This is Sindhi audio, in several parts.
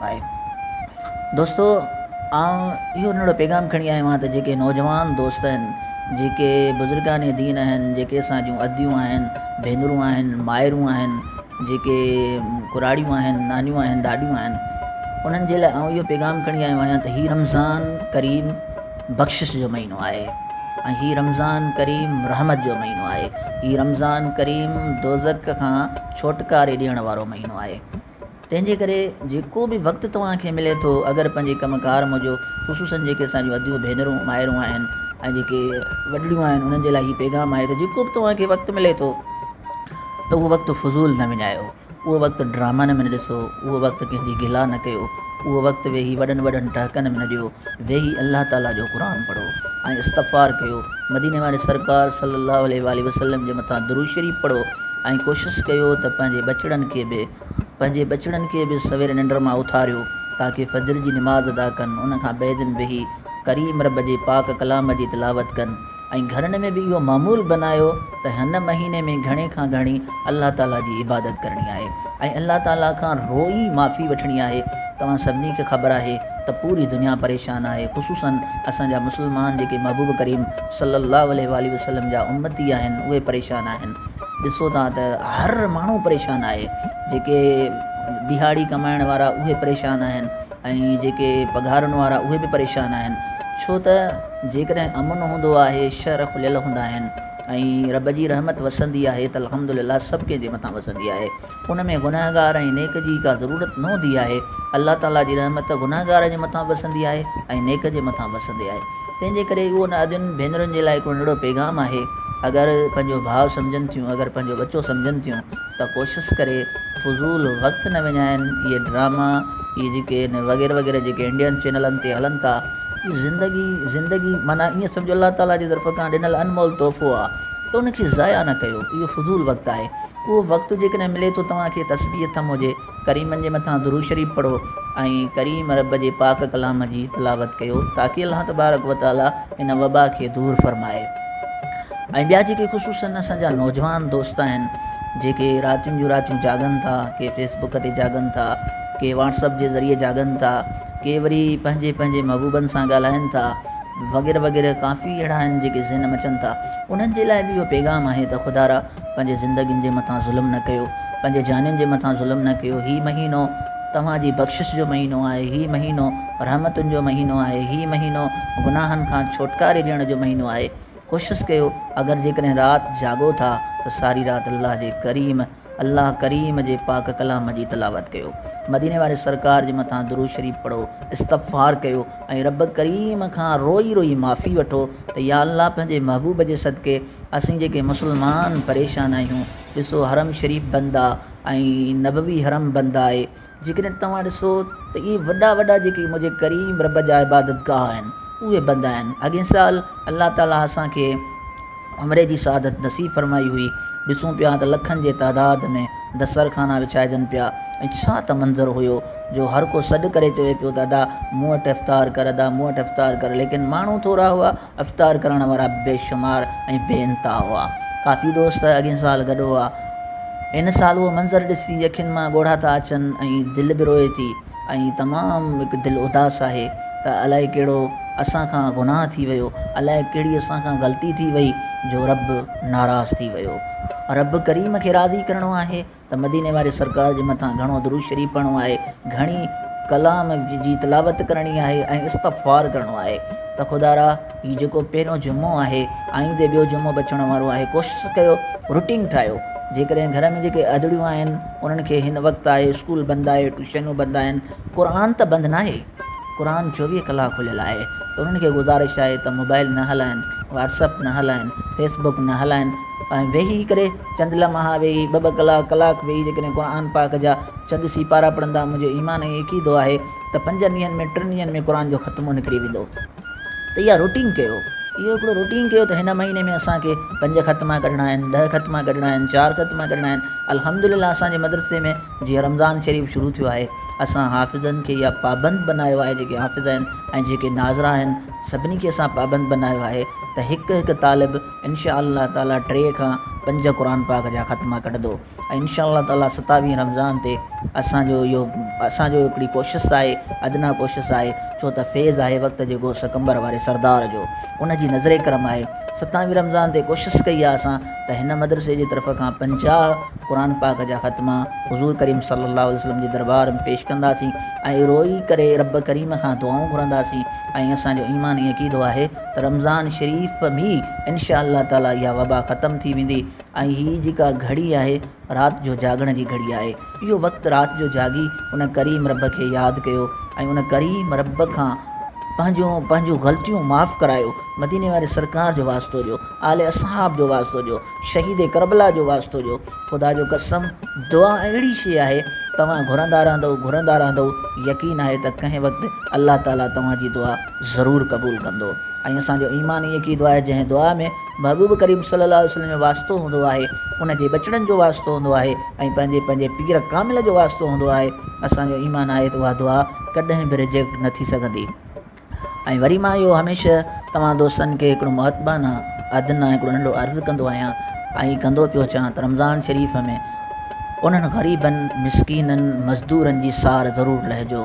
آهي دوستو آئون اهو ننڍڙو پيغام کڻي آيو آهيان ته جيڪي نوجوان دوست آهن جيڪي بزرگان دين آهن جيڪي اسان جون اديون آهن ڀينرون آهن مائرون آهن جيڪي ڪراڙيون آهن نانيون آهن ڏاڏيون آهن انهن جي لاء آئون اهو پيغام کڻي آيو آهيان ته هي رمضان ڪريم بخشش جو مهينو آهي ۽ هي رمضان ڪريم رحمت جو مهينو آهي هي رمضان ڪريم دوزخ کان ڇوٽڪاري ڏيڻ وارو مهينو آهي تنهن جي ڪري جيڪو به وقت توهان کي ملي ٿو اگر پنهنجي ڪم ڪار موجو خصوصن جيڪي اسان جون اديون ڀينرون مائرون آهن ۽ جيڪي وڏڙيون آهن انهن جي لاء هي پيغام آهي ته جيڪو به توهان کي وقت ملي ٿو ته اهو وقت فضول نه وڃايو اهو وقت ڊرامن ۾ نه ڏسو اهو وقت ڪنهن جي گلا نه ڪيو اهو وقت ويهي وڏن وڏن ٽهڪن ۾ نه ڏيو، ويهي الله تعاليٰ جو قرآن پڙهو ۽ استغفار ڪيو، مديني واري سرڪار صلّي اللّٰه عليه واٰله وسلّم جي مٿان درود شريف پڙهو ۽ ڪوشش ڪيو ته پنهنجي ٻچڙن کي به پنهنجي ٻچڙن کي به سويري ننڊ مان اٿاريو تاڪه فجر جي نماز ادا ڪن ان کان بعدم ويهي ڪريم ربّ جي پاڪ ڪلام جي تلاوت ڪن. ۽ گهرن ۾ به اهو معمول بنايو ته هن مهيني ۾ گهڻي کان گهڻي الله تعالي جي عبادت ڪرڻي آهي ۽ الله تعالي کان روئي معافي وٺڻي آهي توهان سڀني کي خبر آهي ته پوري دنيا پريشان آهي خصوصا اسان جا مسلمان جيڪي محبوب ڪريم صلي الله عليه واٰله وسلم جا امتي آهن اهي پريشان آهن ڏسو ٿا ته هر ماڻهو پريشان آهي جيڪي ڏهاڙي ڪمائڻ وارا اهي پريشان آهن ۽ جيڪي پگهارن وارا اهي به پريشان آهن ڇو ته جيڪڏهن امن هوندو آهي، شهر کليل هوندا آهن ۽ رب جي رحمت وسندي آهي ته الحمد لله سڀ ڪنهن جي مٿان وسندي آهي. ان ۾ گنهگار ۽ نيڪ جي ڪا ضرورت نه هوندي آهي. الله تعاليٰ جي رحمت گنهگار جي مٿان به وسندي آهي ۽ نيڪ جي مٿان به وسندي آهي. تنهن جي ڪري اهو نادين ڀينرن جي لاء هڪڙو ننڍڙو پيغام آهي، اگر پنهنجو ڀاء سمجهن ٿيون، اگر پنهنجو ٻچو سمجهن ٿيون، ته ڪوشس ڪري فضول وقت نه وڃائين اهي ڊراما اهي جيڪي ان وغيره وغيره جيڪي انڊين چينلن تي هلن ٿا اهي زندگي زندگي معنيٰ ايئن سمجهو الله تعاليٰ جي طرف کان ڏنل انمول تحفو آهي ته ان کي ضايع نه ڪيو اهو فضول وقت آهي اهو وقت جيڪڏهن ملي ٿو توهان کي تسبيح ٿم هجي ڪريمن جي مٿان درود شريف پڙهو ۽ ڪريم رب جي پاڪ ڪلام جي تلاوت ڪيو تاڪي الله تبارڪ و تعالي هن وبا کي دور فرمائي ۽ ٻيا جيڪي خصوصن اسان جا نوجوان دوست آهن جيڪي راتين جون راتيون جاڳن ٿا ڪي فيس بڪ تي جاڳن ٿا ڪي واٽس اپ جي ذريعي جاڳن ٿا ڪي وري پنهنجي پنهنجي محبوبن سان ڳالهائن ٿا وغيره وغيره ڪافي اهڙا آهن جيڪي ذهن مچن ٿا انهن جي لاء به اهو پيغام آهي ته خدارا پنهنجي زندگين جي مٿان ظلم نه ڪيو، پنهنجي جانين جي مٿان ظلم نه ڪيو، هي مهينو توهان جي بخشش جو مهينو آهي، هي مهينو رحمتن جو مهينو آهي، هي مهينو گناهن کان ڇوٽڪاري ڏيڻ جو مهينو آهي، ڪوشس ڪيو اگر جيڪڏهن رات جاڳو ٿا ته ساري رات الله جي ڪريم الله ڪريم جي پاڪ ڪلام جي تلاوت ڪيو، مديني واري سرڪار جي مٿان درود شريف پڙهو، استغفار ڪيو ۽ رب ڪريم کان روئي روئي معافي وٺو ته يا الله پنهنجي محبوب جي صدقي اسين جيڪي مسلمان پريشان آهيون ڏسو حرم شريف بند آ ۽ نبوي حرم بند آهي جيڪڏهن توهان ڏسو ته اهي وڏا وڏا جيڪي منهنجي ڪريم رب جا عبادت گاهه آهن اهي بند آهن اڳين سال الله تعاليٰ اسانکي عمري جي سعادت نصيب فرمائي هئي ڏسون پيا ته لکن جي تعداد ۾ دستر خانا وڇائجن پيا ۽ ڇا ته منظر هيو جو هر ڪو سڏ ڪري چوي پيو ته ادا مون وٽ افطار ڪر ادا مون وٽ افطار ڪر ليڪن ماڻهو ٿورا هئا افطار ڪرڻ وارا بي شمار ۽ بي انتها هئا. ڪافي دوست اڳئين سال گڏ هئا. هن سال اهو منظر ڏسي اکين مان ڳوڙها ٿا اچن ۽ دل به روئي ٿي ۽ تمام هڪ دل اداس آهي ته الائي ڪهڙو اسان کان گناهه ٿي ويو، الائي ڪهڙي اسان کان غلطي ٿي وئي جو رب ناراض ٿي ويو. رب ڪريم کي راضي ڪرڻو آهي ته مديني واري سرڪار جي مٿان گهڻو درود شريف پڙهڻو آهي، گهڻي ڪلام جي تلاوت ڪرڻي آهي ۽ استغفار ڪرڻو آهي ته خدارا هي جيڪو پهريون جمعو آهي آئيندي ٻيو جمعو به اچڻ وارو آهي ڪوشش ڪيو روٽين ٺاهيو جيڪڏهن گهر ۾ جيڪي اڌڙيون آهن انهن کي هن وقت آهي اسڪول بند آهي ٽيوشنون بند آهن قرآن ته بند ناهي. قرآن چوويهه ڪلاڪ کليل آهي ته انهن کي گذارش آهي ته موبائل نه هلائن، واٽس اپ نه هلائن، فيس بڪ نه هلائن ۽ ويهي ڪري چند لمحا ويهي ٻه ٻه ڪلاڪ ڪلاڪ ويهي جيڪڏهن قرآن پاڪ جا چند سيپارا پڙهندا منهنجو ايمان ائين عقيدو آهي ته پنجن ڏينهن ۾ ٽن ڏينهن ۾ قرآن جو ختمو نڪري ويندو ته اها روٽين ڪيو اهو هڪڙو روٽين ڪيو ته هن مهيني ۾ اسان کي پنج ختما ڪڍڻا آهن ڏهه ختما ڪڍڻا آهن چار ختما ڪڍڻا آهن الحمدلله اسان جي مدرسي ۾ جيئن رمضان شريف شروع ٿيو آهي اسان حافظن کي يا پابند بنايو آهي جيڪي حافظ آهن ۽ جيڪي ناظرا آهن سڀني کي اسان پابند بنايو آهي ته هڪ هڪ طالب انشاء الله تعالي ٽي کان پنج قرآن پاڪ جا ختما ڪڍندو ۽ انشاء الله تعالي ستاويهين رمضان تي اسانجو اهو اسانجو هڪڙي ڪوشش آهي ادنيٰ ڪوشش آهي ڇو ته فيض آهي وقت جي غوث قمبر واري سردار جو ان جي نظر ڪرم آهي ستاويهين رمضان تي ڪوشش ڪئي آهي اسان ته هن مدرسي جي طرف کان پنجاهه قرآن پاڪ جا ختما حضور ڪريم صلي الله عليه وسلم جي دربار ۾ پيش ڪنداسين ۽ روئي ڪري رب ڪريم کان دعائون گهرنداسين ۽ اسان جو ايمان ۽ عقيدو آهي ته رمضان شريف ۾ انشاء الله تعالٰي اها وبا ختم ٿي ويندي ۽ هي جيڪا گهڙي آهي رات جو جاڳڻ جي گهڙي آهي. اهو وقت رات جو جاڳي ان ڪريم رب کي ياد ڪيو ۽ ان ڪريم رب کان پنهنجون پنهنجون غلطيون معاف ڪرايو، مديني واري سرڪار جو واسطو ڏيو، آل اصحاب جو واسطو ڏيو، شهيد ڪربلا جو واسطو ڏيو. خدا جو قسم دعا اهڙي شيء آهي توهان گهرندا رهندؤ گهرندا رهندؤ يقين آهي ته ڪنهن وقت الله تعاليٰ توهان جي دعا ضرور قبول ڪندو ۽ اسان جو ايمان ئي هڪ ئي دعا آهي جنهن دعا ۾. محبوب ڪريم صلي الله عليه وسلم جو واسطو هوندو آهي ان جي ٻچڙن جو واسطو هوندو آهي ۽ پنهنجي پنهنجي پير ڪامل جو واسطو هوندو آهي اسان جو ايمان آهي ته اها دعا ڪڏهن به ريجيڪٽ نه ٿي سگهندي ۽ وري مان اهو هميشه توهان دوستن کي هڪڙو مؤدبانه ادنه هڪڙو ننڍو عرض ڪندو آهيان ۽ ڪندو پيو اچان ته رمضان شريف ۾ انهن غريبن مسڪينن مزدورن جي سار ضرور لهجو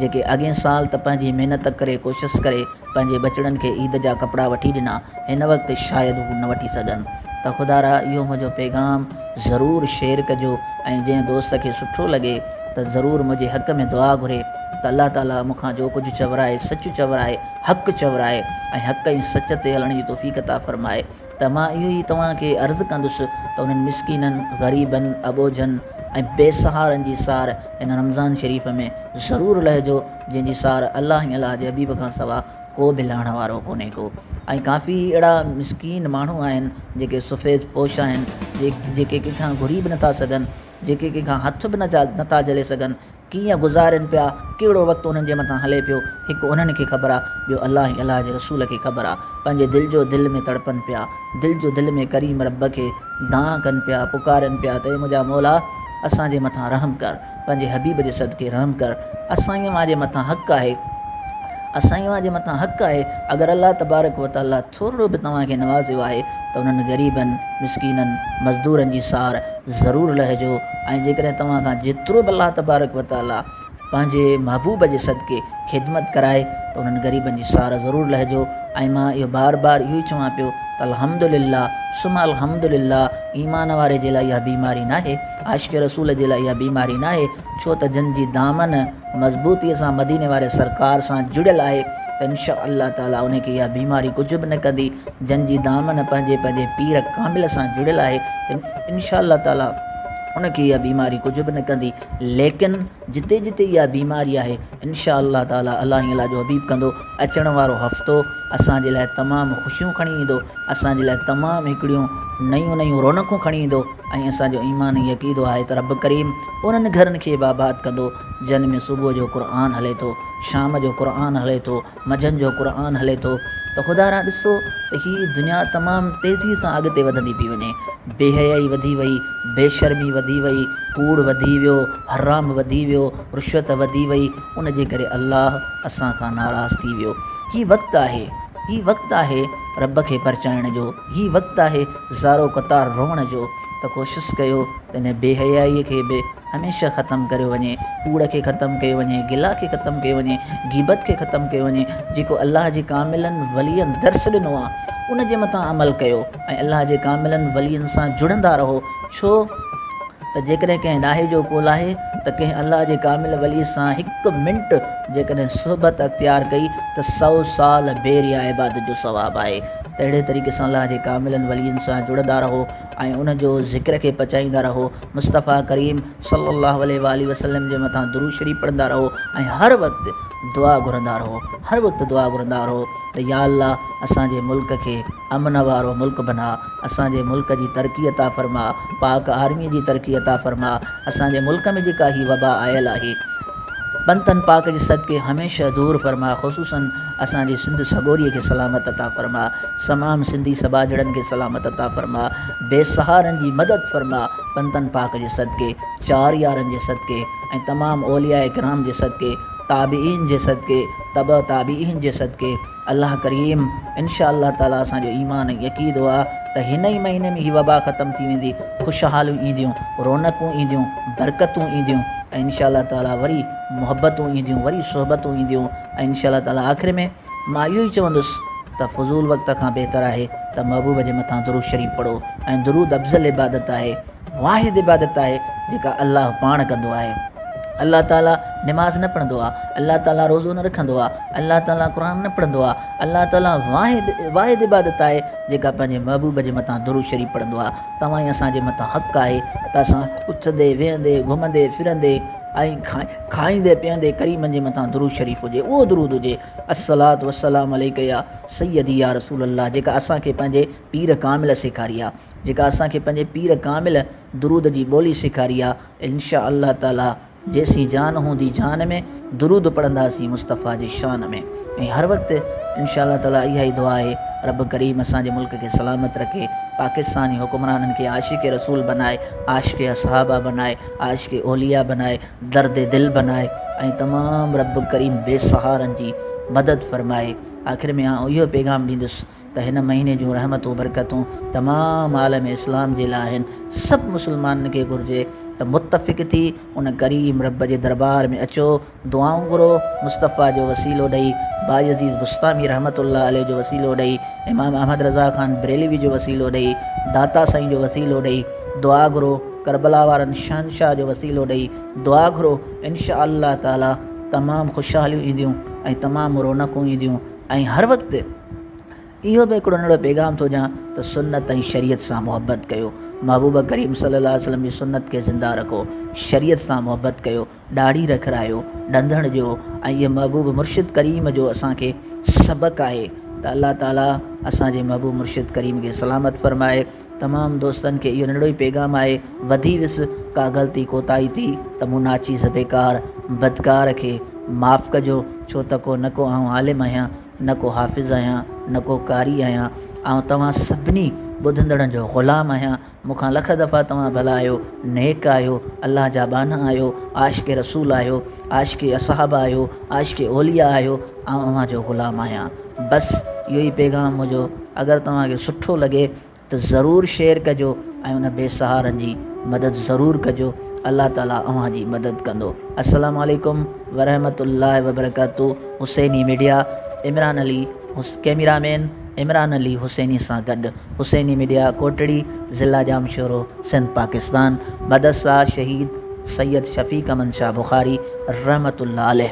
جيڪي اڳئين سال ته پنهنجي محنت ڪري ڪوشش ڪري پنهنجي ٻچڙن کي عيد جا ڪپڙا وٺي ڏنا هن وقت شايد هو نه وٺي سگهن ته خدارا اهو منهنجو پيغام ضرور شيئر ڪجو ۽ جنهن دوست کي سٺو لڳي ته ضرور منهنجي حق ۾ دعا گهري ته الله تعالي مون کان جو ڪجهه چورائي سچ چورائي حق چورائي ۽ حق ۽ سچ تي هلڻ جي توفيق عطا فرمائي ته مان اهو ئي توهان کي عرض ڪندس ته انهن مسڪينن غريبن اٻوجهن ۽ بي سهارن جي سار هن رمضان شريف ۾ ضرور لهجو جنهن جي سار الله ۽ الله جي حبيب کان سوا ڪو به لهڻ وارو ڪونهي ڪو ۽ ڪافي اهڙا مسڪين ماڻهو آهن جيڪي سفيد پوش آهن جيڪي ڪنهن کان گهري به نٿا سگهن جيڪي ڪنهن کان هٿ به نٿا جهلي سگهن ڪيئن گذارين پيا ڪهڙو وقت انهن جي مٿان هلي پيو هڪ انهن کي خبر آ ٻيو الله ۽ الله جي رسول کي خبر آ پنهنجي دل جو دل ۾ تڙپن پيا دل جو دل ۾ ڪريم رب کي دانهن ڪن پيا پڪارين پيا ته اي منهنجا مولا اسان جي مٿان رحم ڪر. پنهنجي حبيب جي صدقي رحم ڪر اسان ئي اوهان جي مٿان حق آهي اسان ئي اوهان جي مٿان حق آهي اگر الله تبارڪ و تعاليٰ ٿورڙو به توهان کي نوازيو آهي ته انهن غريبن مسڪينن مزدورن جي سار ضرور لهجو ۽ جيڪڏهن توهان کان جيترو به الله تبارڪ و تعاليٰ پنهنجي محبوب جي صدقي خدمت ڪرائي ته انهن غريبن جي سار ضرور لهجو ۽ مان اهو بار بار اهو ئي چوان پيو ته الحمدلله ثم الحمدلله ايمان واري جي لاء اها بيماري ناهي عاشق رسول جي لاء اها بيماري ناهي، ڇو ته جن جي دامن مضبوطيء سان مديني واري سرڪار سان جڙيل آهي ته ان شاء الله تعاليٰ انهي کي اها بيماري ڪجهه به نه ڪندي، جن جي دامن پنهنجي پنهنجي پير ڪامل سان جڙيل آهي ته ان شاء الله تعاليٰ ان کي اها بيماري ڪجهه به نه ڪندي، ليڪن. جتي جتي اها بيماري آهي انشاء الله تعالي الاهي الله جو حبيب ڪندو اچڻ وارو هفتو اسان جي لاء تمام خوشيون کڻي ايندو اسان جي لاء تمام هڪڙيون نيون نيون رونقون کڻي ايندو ۽ اسان جو ايمان ۽ عقيدو آهي ته رب ڪريم انهن گهرن کي به آباد ڪندو جن ۾ صبح جو قرآن هلي ٿو شام جو قرآن هلي ٿو منجهن جو قرآن هلي ٿو ته خدا را ڏسو ته هي دنيا تمام تيزي سان اڳتي وڌندي پئي وڃي، بي حيائي وڌي وئي، بي شرمي وڌي وئي، ڪوڙ وڌي ويو، حرام وڌي ويو، رشوت وڌي وئي، ان جي ڪري الله اسان کان ناراض ٿي ويو. هي وقت آهي، هي وقت آهي رب کي پرچائڻ جو، هي وقت آهي زارو قطار روئڻ جو ته ڪوشس ڪيو، ته ان بي حيائيء کي به هميشه ختم ڪريو وڃي، ڪوڙ کي ختم ڪيو وڃي، گلا کي ختم ڪيو وڃي، غيبت کي ختم ڪيو وڃي، جيڪو الله جي ڪاملن ولين درس ڏنو آ، ان جي مٿان عمل ڪيو ۽ الله جي ڪاملن ولين سان جڙندا رهو، ڇو ته جيڪڏهن ڪنهن ڏاهي جو قول آهي ته ڪنهن الله جي ڪامل ولي سان هڪ منٽ جيڪڏهن صحبت اختيار ڪئي ته سؤ سال بي ريا عبادت جو ثواب آهي ته اهڙي طريقي سان الله جي ڪاملن ولين سان جڙندا رهو. ۽ ان جو ذڪر کي پچائيندا رهو، مصطفيٰ ڪريم صلّي اللّٰه عليه واٰله وسلّم جي مٿان درود شريف پڙهندا رهو ۽ هر وقت دعا گهرندا رهو، هر وقت دعا گهرندا رهو ته يا الله اسان جي ملڪ کي امن وارو ملڪ بناء، اسان جي ملڪ جي ترقي عطا فرماء، پاڪ آرمي جي ترقي عطا فرماء، اسان جي ملڪ ۾ جيڪا هي وبا آيل آهي. پنتن پاڪ جي صدقي هميشه دور فرما خصوصاً اسان جي سنڌ سڳوري کي سلامت عطا فرما تمام سنڌي سٻاجهڙن کي سلامت عطا فرما بي سهارن جي مدد فرما پنتن پاڪ جي صدقي چار يارن جي صدقي ۽ تمام اولياء ڪرام جي صدقي تابعين جي صدقي تبع تابعين جي صدقي الله ڪريم انشاء الله تعالي اسان جو ايمان ۽ عقيدو آ ته هن ئي مهيني ۾ هي وبا ختم ٿي ويندي خوشحاليون اينديون رونقون اينديون برڪتون اينديون ۽ انشاء الله تعالي وري محبتون اينديون وري صحبتون اينديون ۽ انشاء الله تعالي آخر ۾ مان اهو ئي چوندس ته فضول وقت کان بهتر آهي ته محبوب جي مٿان درود شريف پڙهو ۽ درود افضل عبادت آهي واحد عبادت آهي جيڪا الله پاڻ ڪندو آهي. الله تعاليٰ نماز نه پڙهندو آهي، الله تعاليٰ روزو نه رکندو آهي، الله تعاليٰ قرآن نه پڙهندو آهي، الله تعاليٰ واحد واحد عبادت آهي جيڪا پنهنجي محبوب جي مٿان درود شريف پڙهندو آهي. توهان ئي اسان جي مٿان حق آهي ته اسان اٿندي، ويهندي، گهمندي، ڦرندي ۽ کائيندي پيئندي ڪريمن جي مٿان درود شريف هجي اهو درود هجي الصلوة والسلام عليك يا سيدي يا رسول الله جيڪا اسان کي پنهنجي پير ڪامل سيکاري آهي. جيڪا اسان کي پنهنجي پير ڪامل درود جي ٻولي سيکاري آ انشاء الله تعالي جيسين جان هوندي جان ۾ درود پڙهنداسين مصطفيٰ جي شان ۾ ۽ هر وقت انشاء الله تعالي اها ئي دعا آهي رب ڪريم اسان جي ملڪ کي سلامت رکي پاڪستان جي حڪمرانن کي عاشق رسول بنائي عاشق اصحابه بنائي عاشق اولياء بنائي درد دل بنائي ۽ تمام رب ڪريم بي سهارن جي مدد فرمائي آخر ۾ آئون اهو پيغام ڏيندس ته هن مهيني جون رحمتون برڪتون تمام عالم اسلام جي لاء آهن سڀ مسلمانن کي گهرجي ته متفق ٿي ان ڪريم رب جي دربار ۾ اچو دعائون گهرو مصطفيٰ جو وسيلو ڏئي بايزيد بسطامي رحمة الله عليه جو وسيلو ڏئي امام احمد رضا خان بريلوي جو وسيلو ڏئي داتا سائين جو وسيلو ڏئي دعا گهرو ڪربلا وارن شهنشاهه جو وسيلو ڏئي دعا گهرو انشاء الله تعالي تمام خوشحاليون اينديون ۽ تمام رونقون اينديون ۽ هر وقت اهو به هڪڙو ننڍڙو پيغام ٿو ڏيان ته سنت ۽ شريعت سان محبت ڪيو محبوب ڪريم صلي الله عليه وسلم جي سنت کي زنده رکو شريعت سان محبت ڪيو ڏاڙهي رکرايو ڏندڻ ڏيو ۽ اهي محبوب مرشد ڪريم جو اسان کي سبق آهي ته الله تعالي اسان جي محبوب مرشد ڪريم کي سلامت فرمائي تمام دوستن کي اهو ننڍڙو ئي پيغام آهي وڌي ويس ڪا غلطي ڪوتاهي ٿي ته مون ناچيز بيڪار بدڪار کي معاف ڪجو ڇو ته ڪو نه ڪو آئون عالم آهيان نه ڪو حافظ آهيان نه ڪو قاري آهيان آئون توهان سڀني ٻڌندڙن جو غلام آهيان مون کان لک دفعا توهان ڀلا آهيو نيڪ آهيو الله جا ٻانها آهيو عاشق رسول آهيو عاشق اصحابه آهيو عاشق اوليا آهيو آئون اوهان جو غلام آهيان. بس اهو ئي پيغام منهنجو اگر توهان کي سٺو لڳي ته ضرور شيئر ڪجو ۽ ان بي سهارن جي مدد ضرور ڪجو الله تعالي اوهان جي مدد ڪندو السلام عليڪم ورحمة الله وبرڪاته Hussaini media Imran Ali camera man Imran Ali Hussaini سان گڏ حسيني ميڊيا ڪوٽڙي ضلع ڄامشورو سنڌ پاڪستان مدد ساز شهيد سيد شفيق امن شاهه بخاري رحمة الله عليه.